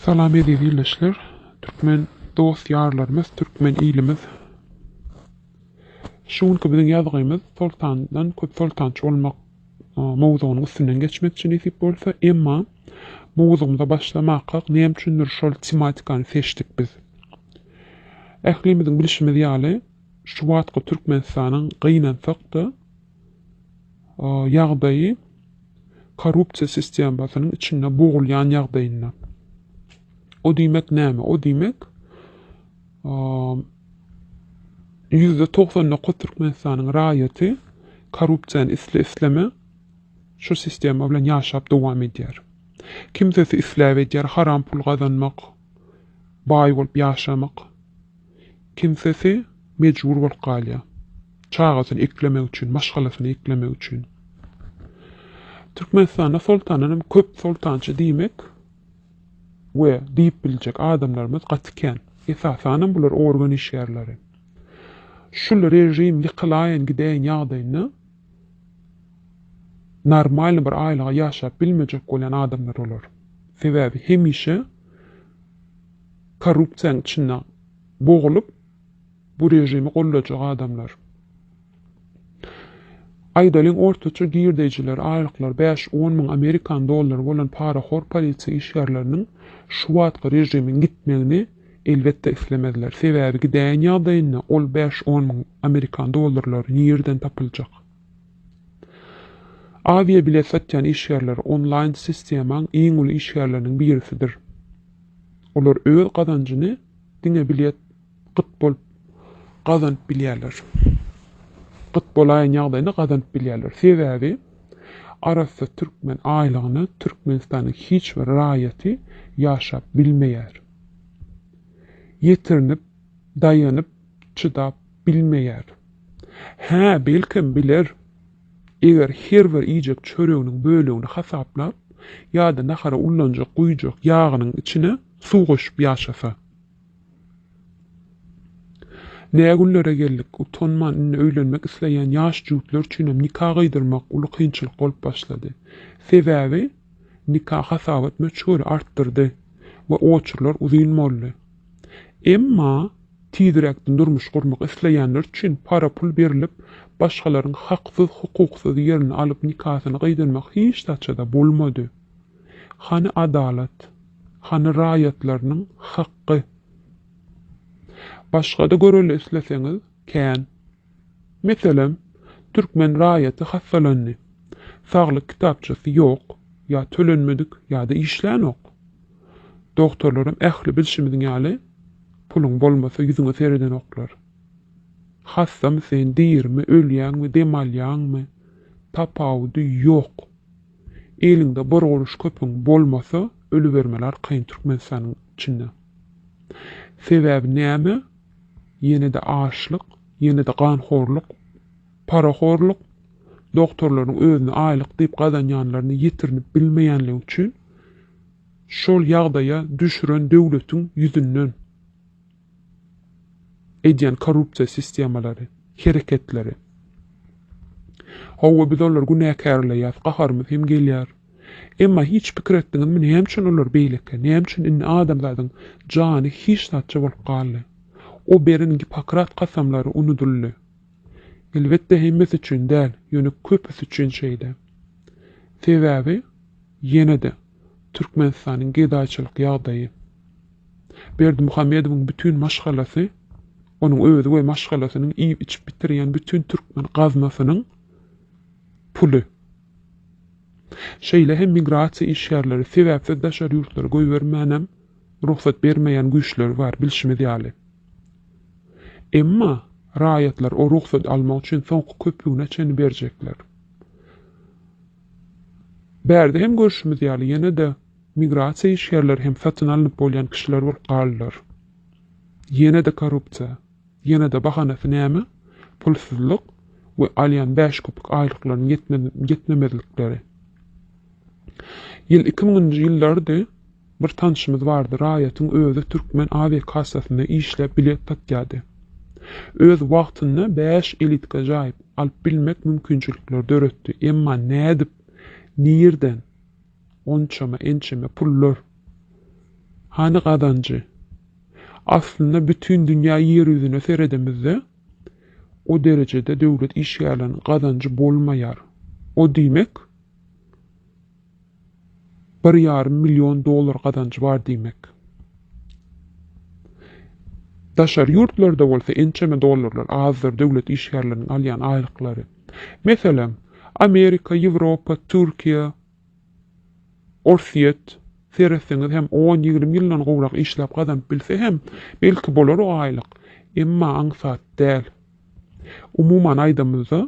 Salam eziz ildeşler, türkmen dost ýarlarymyz, türkmen ilimiz. Şu günki biziň ýazgymyz Soltandan köp soltançy bolmak mowzugynyň üstünden geçmekçi nesip bolsa, emma mowzugymyza başlamakak näme üçindir şol tematikany seçdik biz. Ählimiziň bilşimiz ýaly, şu wagtky Türkmenistanyň gynansak-da, ýagdaýy korrupsiýa sistemasynyň içinde bogulýan ýagdaýynda. O diýmek näme? O diýmek, ýüzde togsan dokuz Türkmenistanyň raýaty korrupsiýany isle-isleme şu sistema bilen ýaşap dowam edýär. Kimsesi isläp edýär haram pul gazanmak, baý bolup ýaşamak. Kimsesi mejbur bolup galýar. Çagasyny eklemek üçin, maşgalasyny eklemek üçin. Türkmenistanda soltandan hem köp soltança diýmek we diýip biljek adamlarymyz gaty kän. Esasanam bular organ işgärleri. Şul režim ýykylaýyn gidäýen ýagdaýynda normalny bir aýlyga ýaşap bilmejek bolýan adamlar olar. Sebäbi hemişe. Korrupsiýanyň içinde bogulyp bu režimi gollajak adamlar. Aýdalyň ortaça girdeýjileri aýlyklary bäş, on müň amerikan dollary bolan parahor polisiýa işgärleriniň şu wagtky režimiň gitmegini elbetde islemezler. Sebäbi gidäýen ýagdaýynda ol bäş, on müň amerikan dollarlary nirden tapyljak. Awiabilet satýan işgärler onlaýn sistemaň iň uly işgärleriniň birisidir. Olar öz gazanjyny diňe bilet gyt bolup gazanyp bilýärler. Gyt bolaýan ýagdaýynda gazanyp bilýärler. Sebäbi arassa türkmen aýlygyna Türkmenistanyň hiç bir raýaty ýaşap bilmeýär. Ýetirinip, daýanyp çydap bilmeýär. Hä, belkem, biler. Eger her bir iýjek çöreginiň bölegini hasaplap, ýa-da nahara ullanjak guýjak ýagynyň içine suw goşup ýaşasa. Nä günlere geldik, utanman, indi öýlenmek isleýän ýaş jübütler üçinem nika gyýdyrmak uly kynçylyk bolup başlady. Sebäbi nika hasabat möçberi artdyrdy we oçurlar uzyn boldy. Emma tizräkden durmuş gurmak isleýänler üçin para-pul berlip, başgalaryň haksyz-hukuksyz ýerini alyp nikasyny gydyrmak hiç saçada bolmady. Hany adalat? Hany raýatlarynyň hakgy? Başga-da göreli isleseňiz, kän. Meselem, türkmen raýaty hassalandy. Saglyk kitapçasy ýok, ýa tölenmedik, ýa-da işlänok. Dogtorlaram ähli bilşimiz ýaly, puluň bolmasa ýüzüňe seredenoklar. Hassamy sen, dirimi, ölýäňmi, dem alýaňmy, tapawudy ýok. Eliňde bir gurruş köpüň bolmasa, ölübermeli arkaýyn Türkmenistanyň içinde. Sebäbi näme? Ýene-de açlyk, ýene-de ganhorluk, parahorluk, dogtorlaryň özüni aýlyk diýip gazanýanlaryny ýetirinip bilmeýänligi üçin şol ýagdaýa düşüren döwletiň ýüzünden edýän korrupsiýa sistemalary, hereketleri. Hawa, biz olary günäkärleýäs, gaharymyz hem gelýär. Emma hiç pikir etdiňizmi, näme üçin olar beýleki, näme üçin indi adamzadyň jany hiç zatça bolup galdy? O beren Gippokrat kasamlary unudyldy. Elbetde hemmesi üçin däl, ýöne köpüsi üçin şeýle. Sebäbi, ýene-de, Türkmenistanyň gedaýçylyk ýagdaýy. Berdimuhamedowyň bütin maşgalasy, onuň özi we maşgalasynyň iýip-içip bitirýän bütin türkmen gaznasynyň puly. Şeýle hem migrasiýa işgärleri sebäpsiz daşary ýurtlara goýbermänem rugsat bermeýän güýçler bar, bilşimiz ýaly. Emma raýatlar o rugsady almak üçin soňky köpügine çenli berjekler. Bärde hem görşümiz ýaly, ýene-de migrasiýa işgärleri hem satyn alnyp bolýan kişiler bolup galdylar. Ýene-de korrupsiýa. Ýene-de bahanasy näme? Pulsuzlyk we alýan bäş köpük aýlyklarynyň ýetmemezlikleri. Ýyl iki müňünji ýyllardy. Bir tanşymyz bardy, raýatyň özi türkmen awiakassasynda işläp bilet satýardy. Öz wagtynda bäş elitka jaýyp, alyp bilmek mümkinçilikleri döretdi. Emma nädip? Nirden? Onçama, ençeme pullar. Hany gazanjy? Aslynda bütin dünýä ýer ýüzüne seredemizde, o derejede döwlet işgärleriniň gazanjy bolmaýar. O diýmek, bir ýarym million dollar gazanjy bar diýmek. Daşary ýurtlarda bolsa ençeme dollarlar azdyr döwlet işgärleriniň alýan aýlyklary. Meselem, Amerika, Ýewropa, Türkiýe, Orsýet, seretseňiz hem on-ýigrimi ýyldan gowrak işläp gazanyp bilse hem, belki bolar o aýlyk, emma aňsat däl. Umuman aýdamyzda,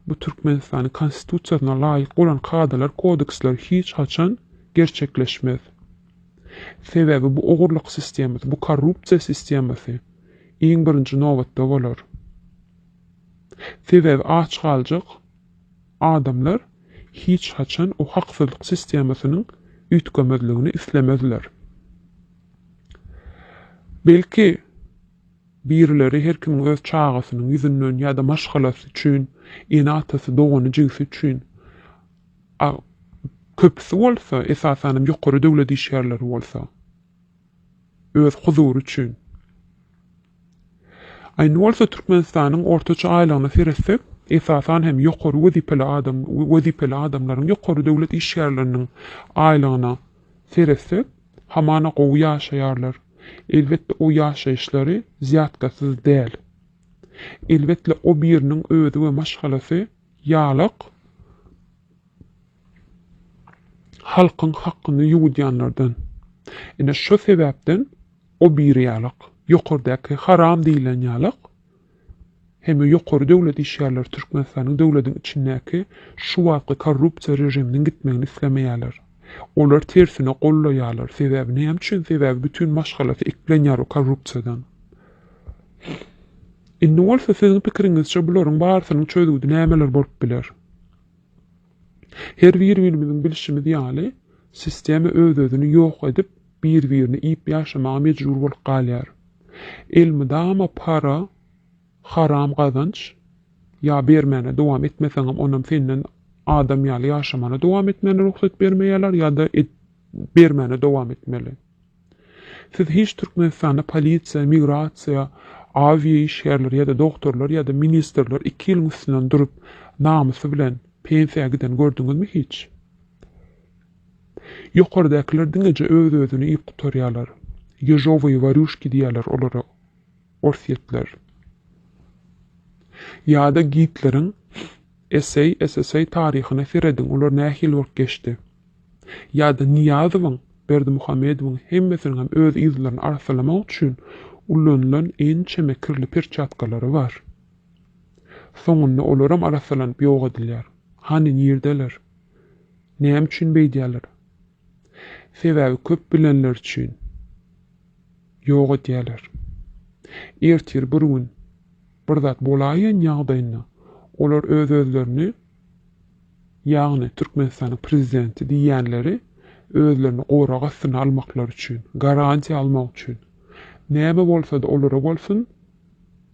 bu Türkmenistanyň Konstitusiýasyna laýyk bolan kadalar, kodeksler hiç haçan gerçekleşmez. Sebäbi bu ogurlyk sistemasy, bu korrupsiýa sistemasy iň birinji nobatda bolar. Sebäbi aç galjak adamlar hiç haçan o haksyzlyk sistemasynyň üýtgemezligini islemezler. Belki, birileri her kimiň öz çagasynyň ýüzünden ýa-da maşgalasy üçin, ene-atasy, dogany-jigisi üçin, a köpüsi bolsa, esasanam ýokary döwlet işgärleri bolsa, öz huzury üçin. Indi bolsa Türkmenistanyň ortaça aýlygyna seretsek, esasan hem ýokary wezipeli adam, wezipeli adamlaryň, ýokary döwlet işgärleriniň aýlygyna seretsek, hamana gowy ýaşaýarlar. Elbetde o ýaşaýyşlary zýatkasyz däl. Elbetde o biriniň özi we maşgalasy ýalak halkyň hakkyny ýuwudýanlardan. Ine şo sebäpden. O biri ýalak, ýokardaki haram diýilen ýalak, hemme ýokary döwlet işgärleri Türkmenistanyň döwlediň içindäki şu wagtky korrupsiýa režiminiň gitmegini islemeýäler. Olar tersine gollaýalar. Sebäbi näme üçin? Sebäbi bütin maşgalasy eklenýär o korrupsiýadan. Indi bolsa siziň pikiriňizçe bularyň barysynyň çözgüdi nämeler bolup biler? Her bir-birimiziň bilşimiz ýaly, sistema öz-özüni ýok edip, bir-birini iýip ýaşamaga mejbur bolup galýar. Elmydama para, haram gazanç, ýa bermäne dowam etmeseňem, onam senden adam ýaly ýaşamana dowam etmäne rugsat bermeýärler ýa-da et bermäne dowam etmeli. Siz hiç Türkmenistanda polisiýa, migrasiýa, awia işgärleri ýa-da dogtorlar ýa-da ministrler iki ýylyň üstünden durup namysy bilen pensiýa giden gördüňizmi hiç? Ýokardakylar diňeje öz-özüni iýip gutarýalar. Ýežowyýe warýuşki diýýäler olara. Orsýetler. Ýa-da Gitleriň SSSR taryhyna serediň, olar nähili bolup geçdi. Ýa-da Nyýazowyň, Berdimuhamedowyň hemmesiniň hem öz yzlaryny arssalamak üçin ulanylan ençeme kirli perçatkalary bar. Soňunda olaram arassalanyp ýok edilýär. Hany, nirdeler? Näme üçin beýdýärler? Sebäbi köp bilenler üçin. Ýok edýärler. Ertir bir gün bir zat bolaýýan ýagdaýynda olar öz-özlerini, ýagny Türkmenistanyň prezidenti diýýänleri özlerini gorag astyna almaklary üçin, garantiýa almak üçin, näme bolsa-da olara bolsun,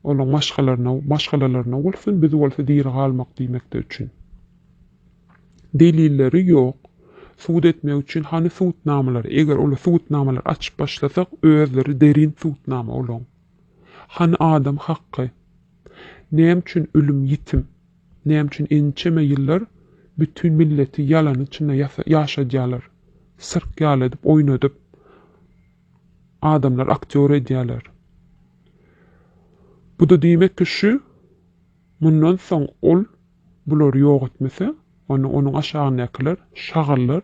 olaryň maşgalalaryna bolsun, biz bolsa diri galmak diýmekleri üçin. Delilleri ýok. Subut etmek üçin hany subutnamalary? Eger ol subutnamalary açyp başlasak, özleri derin subutnama olaň. Hany adam hakky? Näme üçin ölüm ýitim? Näme üçin ençeme ýyllar bütin milleti ýalanyň içinde ýaşadýarlar? Sirk ýaly edip oýnadyp, adamlary aktýor edýärler. Bu-da diýmek ki, şu. Mundan soň ol bulary ýok etmese, onda onuň aşagyndakylar, şagyrlar,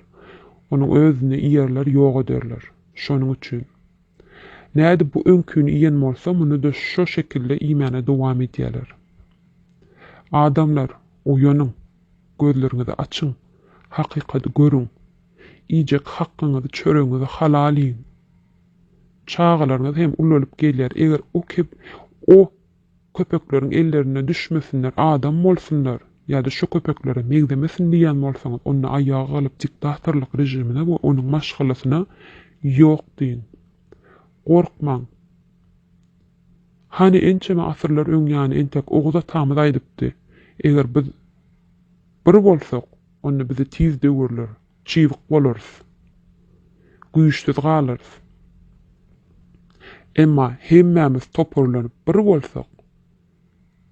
onuň özüni iýerler, ýok ederler. Şonuň üçin, nädip bu öňkini iýen bolsa, muny-da şo şekilde iýmäne dowam edýärler. Adamlar, oýanyň! Gözleriňizi açyň! Hakykady görüň! Iýjek hakyňyzy, çöregiňizi halal iýiň! Çagalaryňyz hem ulalyp gelýär, eger o, o Köpekleriň ellerine düşmesinler, adam bolsunlar ýa-da şo köpeklere meňzemesin diýýän bolsaňyz, onda aýaga galyp diktatorlyk režimine we onuň maşgalasyna ýok diýiň. Gorkmaň. Hany ençeme asyrlar öňýany entek Oguz atamyz aýdypdy, Eger biz bir bolsak, onda bizi tiz döwerler. Çybyk bolarys. Güýçsüz galarys. Emma hemmämiz toparlanyp bir bolsak,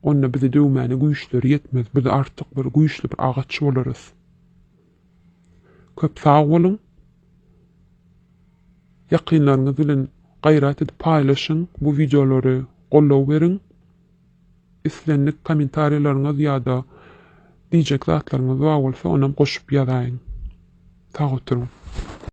onda bizi döwmäne güýçleri ýetmez, biz artyk bir güýçli bir agaç bolarys. Köp sag boluň. Ýakynlaryňyz bilen gaýrat edip paýlaşyň bu wideolary, goldaw beriň. Islendik kommentariýalaryňyz ýa-da diýjek zatlaryňyz bar bolsa onam goşup ýazaýyň. Sag oturyň.